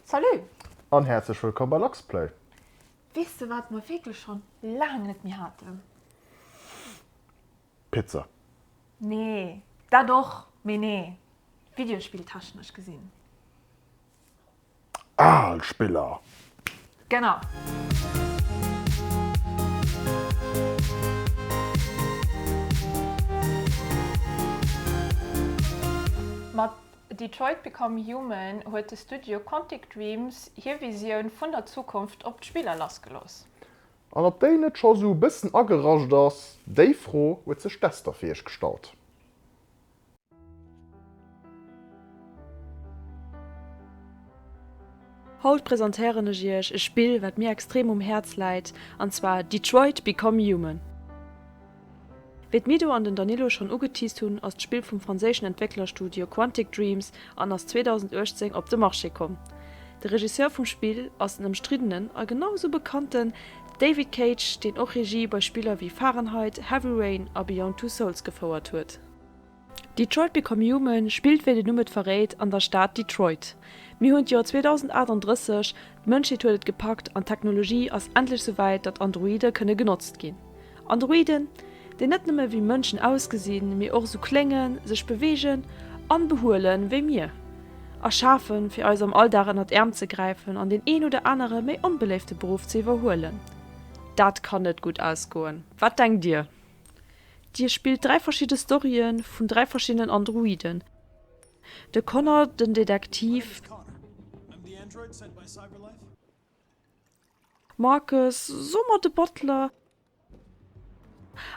Salut! An häerzlech wëllkomm bei Luxplay! Weess de wat mer wierklech schonn laang net méi haten? Pizza! Nee, dat och, mee nee, Videospill-technesch gesinn. Al Spiller! Genau! Detroit Become Human huet de Studio Quantic Dreams hir Visioun vun der Zukunft op d'Spiller lassgelooss. An ob déi net scho sou bëssen ageracht ass, déi Fro huet sech d'Esther fir iech gestallt. Haut presentéieren ech iech e Spill wat mir extrem um Häerz läit, an zwar Detroit Become Human. Wéi d'Mido an den Danilo schonn ugeteased hunn, ass d'Spill vum franséischen Entwécklerstudio Quantic Dreams an ass 2018 op de Marché komm. De Regisseur vum Spill ass den ëmstriddenen a genau esou bekannte David Cage, deen och Regie bei Spiller wéi Fahrenheit, Heavy Rain a Beyond Two Souls gefouert huet. Detroit Become Human spillt, wéi den Numm et verréit, an der Stad Detroit. Mir hunn d'Joer 2038, d'Mënschheet huet et gepackt an d'Technologie ass endlech souwäit, datt Androide kënne genotzt ginn. Androiden, déi net nëmme wéi Mënschen ausgesinn, mee och esou kléngen, sech beweegen an behuelen wéi mir. Erschafen, fir eis am Alldag ënnert Äerm ze gräifen an deen een oder anere méi onbeléifte Beruff ze iwwerhuelen. Dat kann net gutt ausgoen. Wat denkt Dir? Dir spillt dräi verschidde Storye vun dräi verschiddenen Androiden, de Connor, den Detektiv, Marcus, soe mer de Butler,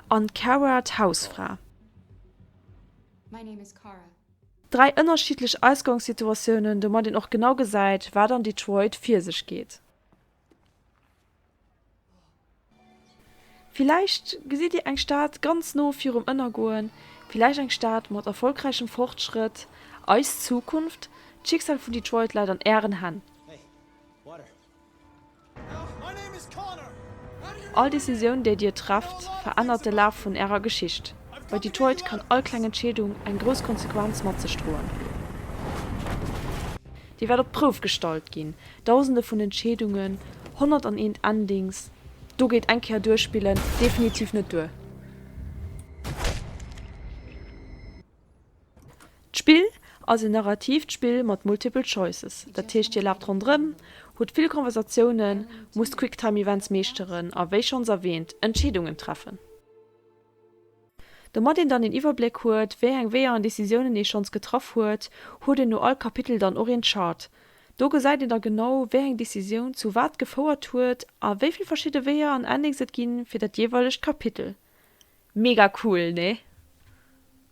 an d'Kara, d'Hausfra. Dräi ënnerschiddlech Ausgangssituatiounen, domat een och genau gesäit, wat an Detroit vir sech geet. Villäicht gesitt Dir eng Stad ganz no virum Ënnergoen, villäicht eng Stad mat erfolgräichem Fortschrëtt. Eis Zukunft, d'Schicksal vun Detroit läit an Ären Hänn. All Decisioun, déi Dir trefft, verännert de Laf vun Ärer Geschicht. Bei Detroit kann all kleng Entscheedung eng grouss Konsequenz mat sech droen. Déi wäert op d'Prouf gestallt ginn, Dausende vun Entscheedungen, honnert an eent Endings, do geet eng Kéier duerspillen definitiv net duer. D'Spill ass en narratiivt Spill mat multiple choices, dat heescht Dir laaft ronderëm, hutt vill Conversatiounen, musst Quicktime-Events meeschteren a wéi schonns erwäänt, Entscheedungen treffen. Domat een dann een Iwwerbléck huet, wéi eng Weeër an Decisiounen ee schonns getraff huet, huet een no all Kapitel dann och een Chart. Do gesäit een da genau, wéi eng Decisioun zu wat gefouert huet a wéi vill verschidde Weeër an Endings et ginn fir dat jeeweilegt Kapitel. Mega cool, nee?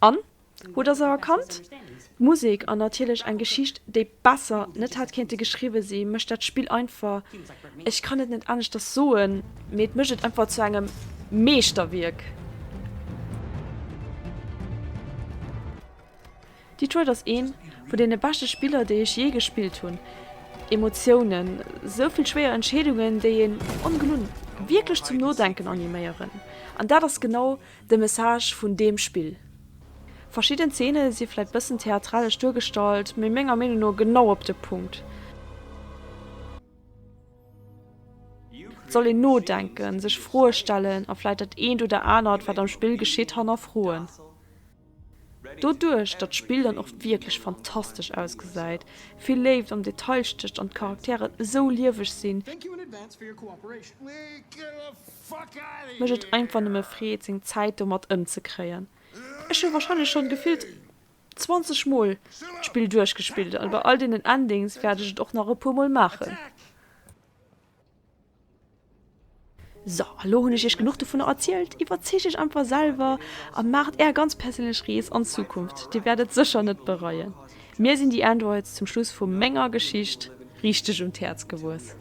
An? Hutt Der se erkannt? D'Musek, an natierlech eng Geschicht, déi besser net hätt kéinte geschriwwe si mécht dat Spill einfach, ech kann et net aneschters soen, mee et mécht et einfach zu engem Meeschterwierk! Detroit ass ee vun deene beschte Spiller, déi ech jee gespillt hunn. Emotiounen, sou vill schwéier Entscheedungen, déi een ongelunn wierklech zum Nodenken animéieren. An dat ass genau de Message vun deem Spill. Verschidden Zeene si vläit bëssen theatralesch duergestallt, mee menger Meenung no genau op de Punkt. Soll een nodenken, sech Froe stellen a vläit dat eent oder anert, wat am Spill geschitt, hannerfroen. Doduerch datt d'Spill dann och wierklech fantastesch ausgesäit, vill Léift am Detail stécht an d'Charakteren esou lieweg sinn, mécht et einfach nëmme Freed seng Zäit domat ëmzekréien. Ech hu warscheinlech schonn gefillt 20 mol d'Spill duerchgespillt, a bei all deenen Endings wäert ech et och nach e puer mol maachen. So, a lo hunn ech iech genuch dovunner erzielt. Iwwerzeegt iech einfach selwer a maacht är ganz perséinlech Rees an d'Zukunft. Dir wäert et sécher net bereien. Mir sinn déi Androids zum Schluss vu menger Geschicht richteg un d'Häerz gewuess.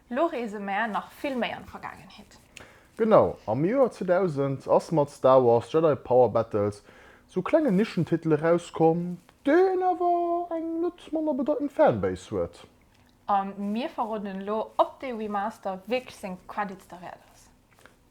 Lo reese mär nach vill méi an d'Vergaangenheet. Genau, am Joer 2000 ass mat Star Wars Jedi Power Battles sou klengen Nischentitel erauskomm, deen awer eng net manner bedeitend Fanbase huet. A mir verroden elo op dee Remaster wierklech seng Credits derwäert ass.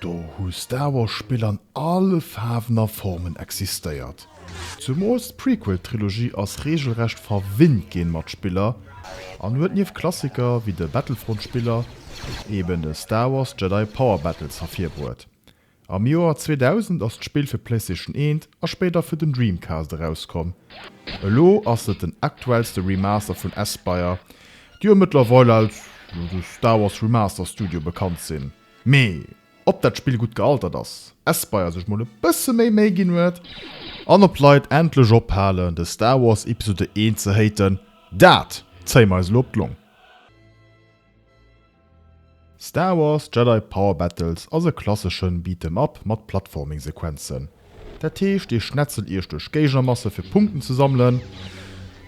Do hu Star Wars Spill an alle Faarwen a Formen existéiert. Zumools d'Prequel Trilogie ass regelrecht verwinnt gin mat Spiller an huet nieft Klassiker wéi de Battlefront Spiller eben de Star Wars Jedi Power Battles hervirbruet. Am Joer 2000 ass d'Spill fir Playstation 1 a spéider fir den Dreamcast erauskomm. Elo ass et den aktuellste Remaster vun Aspyr déi jo mëttlerweil als de Star Wars Remaster Studio bekannt sinn. Mee ob dat Spill gutt gealtert ass, Espire sech mol e bësse méi Méi ginn huet an ob d'Leit endlech ophalen de Star Wars Episode I ze haten, dat zéie mer eis elo op d'Long. Star Wars Jedi Power Battles ass e klasseschen Beat 'em up mat Platforming Sequenzen. Dat heescht dir schnetzelt iech duerch Géigermasse fir Punkten ze sammelen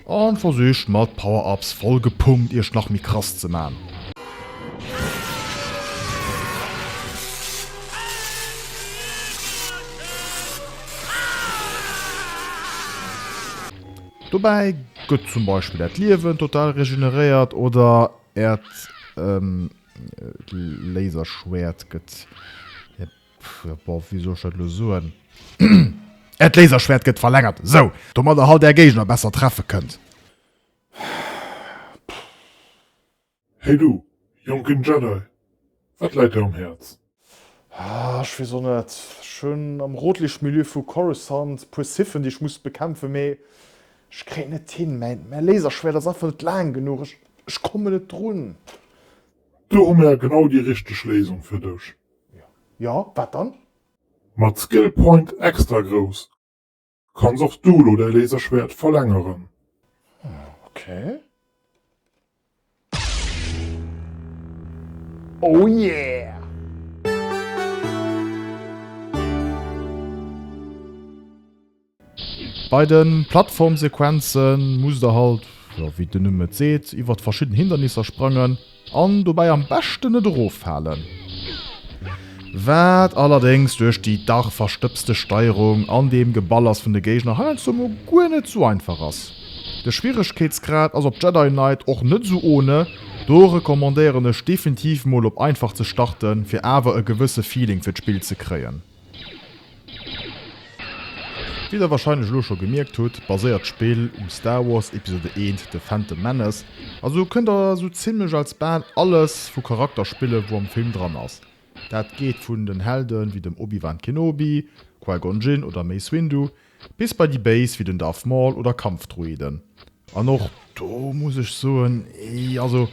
an versicht mat Power Ups voll gepumpt iech nach méi krass ze man. Dobäi gëtt zum Beispill äert Liewen total regeneréiert oder Äert Laserschwert gëtt, boah, wéi soll ech dat elo soen? Äert Laserschwert gëtt verlängert, esou domat der halt Är Géigner besser treffe kënnt. Hey du, jonken Jedi, wat läit Dir um Häerz? Ah, ech weess och net. Ech hunn am rotlicht Milieu vu Coruscant e puer Sithen, déi ech muss bekämpfen, mee ech kréien et net hin. Mäin Laserschwäert ass einfach net laang genuch. Ech, ech kommen net drun. Do hu mer genau déi richteg Léisung fir dech. Jo, wat dann? Mat Skill Point extra grouss. Kanns och du lo däi Laserschwert verlängeren. Okay. Oh yeah! Bei de Plattformsequenzen musst der halt, jo wéi den Numm et seet, iwwert verschidden Hindernisser sprangen. An dobäi am beschten net eroffalen. Wat allerdéngs duerch déi dach verstëbste Steierung an dem Geballers vun de Géigner heiansdo mol guer net sou einfach ass. De Schwieregkeetsgrad ass op Jedi Knight och net sou ohne, do recommandéieren ech definitiv mol op einfach ze starten fir awer e gewësse Feeling fir d'Spill ze kréien. Wéi der warscheinlech elo scho gemierkt hutt, baséiert d'Spill um Star Wars Episode I, The Phantom Menace, a sou kënnt der sou zimlech als bal alles vu Charakter spille wou am Film dran ass. Dat geet vun den Helden wéi dem Obi-Wan Kenobi, Qui-Gon Jinn oder Mace Windu Bis bei déi Béis wéi den Darth Maul oder Kampfdruiden. An och do muss ech soen, ee also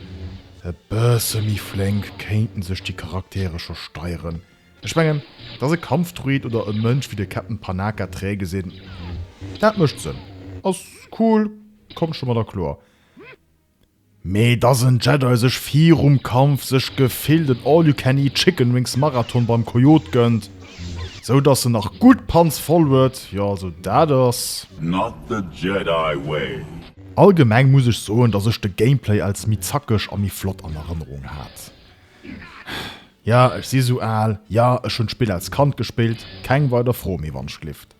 e bësse méi flénk kéinten sech déi Charaktere scho steieren. Ech mengen, dass e Kampfdruid oder e Mënsch wéi de Captain Panaka träge gesinn, dat mécht Sënn, ass cool, kommt scho mat erkloer. Mee dass en Jedi sech virum Kampf sech gefillt en All-You-Can-Eat-Chicken-Wings-Marathon beim Coyote gënnt, sou dass en nach gutt d'Panz voll huet, jo also dat ass. Not the Jedi way. Allgemeng muss ech soen dass ech de Gameplay als méi zackeg a méi flott an Erënnerung hat. Jo ech si sou al, jo ech hunn d'Spill als Kand gespillt, keng weider Fro méi wann d'Schlift.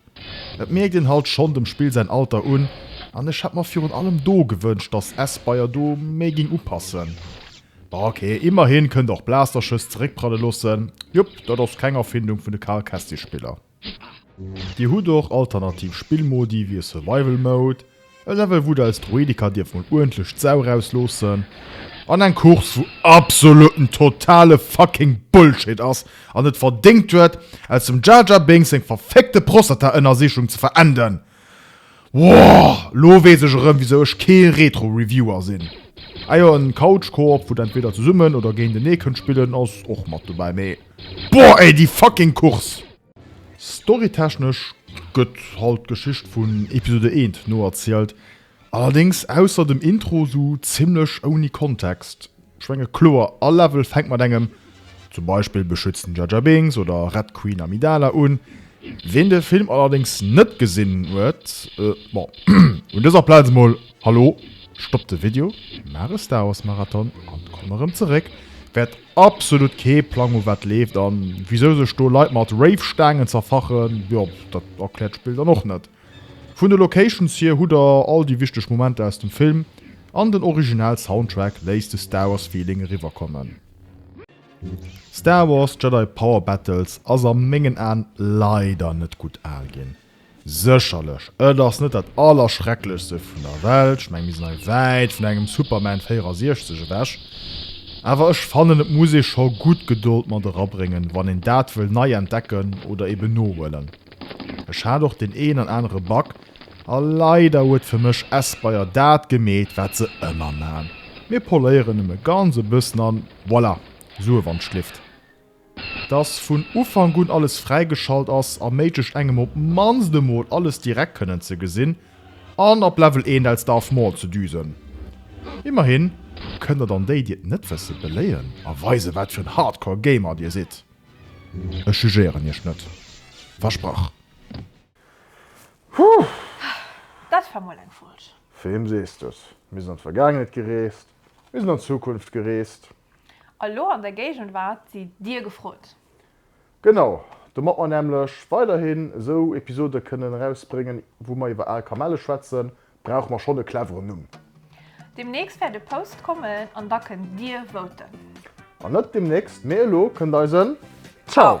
Et mierkt een halt schon dem Spill säin Alter un an ech hätt mer virun allem do gewënscht dass S-Bayer do méi ging upassen. Bon ok, immerhin kënnt och Blasterschëss zeréckprallen loossen, jup dat ass keng Erfindung vun de Karl Kestis Spiller. Dir hutt och alternativ Spillmodi wéi e Survival Mode, E Level wou deis Droidika dierf mol uerdentlech d'Sau raus loossen. An eng Course wou absoluten totale fucking Bullshit ass an et verdéngt huet aus dem Jar Jar Binks seng verfickte Prostata-Ënnersichung ze verenden. Woohh! Lo wees ech erëm wisou ech kee Retro Reviewer sinn. Ah jo, en Couch Co-op wou der entweder zesummen oder géintenee kënnt spillen ass och mat dobäi, mee boohh ey déi fucking Course! Storytechnesch gëtt halt d'Geschicht vun Episode I noerzielt, allerdéngs ausser dem Intro sou zimmlech ouni Kontext. Ech menge kloer all Level fänkt mat engem zum Beispill beschützen Jar Jar Binks oder rett Queen Amidala un. Ween de Film allerdéngs net gesinn huet, bon, un dëser Plaz emol Hallo, stoppt de Video, maacht e Star Wars Marathon an komm erëm zeréck, wäert Absolut kee Plang u wat leeft an wisou sech do Leit mat Rave-Staangen zerfachen, jo dat erkläert d'Spill dann och net. Vun de Locations hier hutt der all déi wichteg Momenter aus dem Film an den original Soundtrack léisst de Star Wars Feeling eriwwerkommen. Star Wars Jedi Power Battles ass a mengen Aan leider net gudd aal ginn. Sécherlech, et ass net dat Allerschrecklechste vun der Welt, ech menge mir sinn hei wäit vun engem Superman 64 ewech, awer ech fannen et muss ee scho gutt Gedold mat erabréngen, wann een dat wëll nei entdecken oder eben nohuelen. Ech hat och deen een an anere Bug, a leider huet fir mech Espire dat gemeet wat se ëmmer man, mir poléieren nëmme ganz e bëssen an voilà, Sue Wandschlift. Dass vun Ufank un alles fräigeschalt ass, erméiglecht engem op d'mannst emol alles direkt kënnen ze gesinn an op Level 1 als Darth Maul ze düsen. Immerhin kënnt der dann déi, déi et net wësse beléien a weisen, wat fir en Hardcore Gamer dir sidd. Ech jugéieren iech net, versprach. Puh! Dat war mol eng Folg. Wem sees de s? Mir sinn an d'Vergaangenheet gereest, mir sinn an d'Zukunft gereest. A lo an der Géigenwart si dir gefrot. Genau, domat mer nämlech weiderhin esou Episode kënnen erausbréngen, wou mer iwwer al Kamelle schwätzen, brauche mer schonn e cleveren Numm. Demnächst wäert e Post kommen an da kënnt dir voten. Wann net demnächst, mee elo, kënnt eisen Ciao!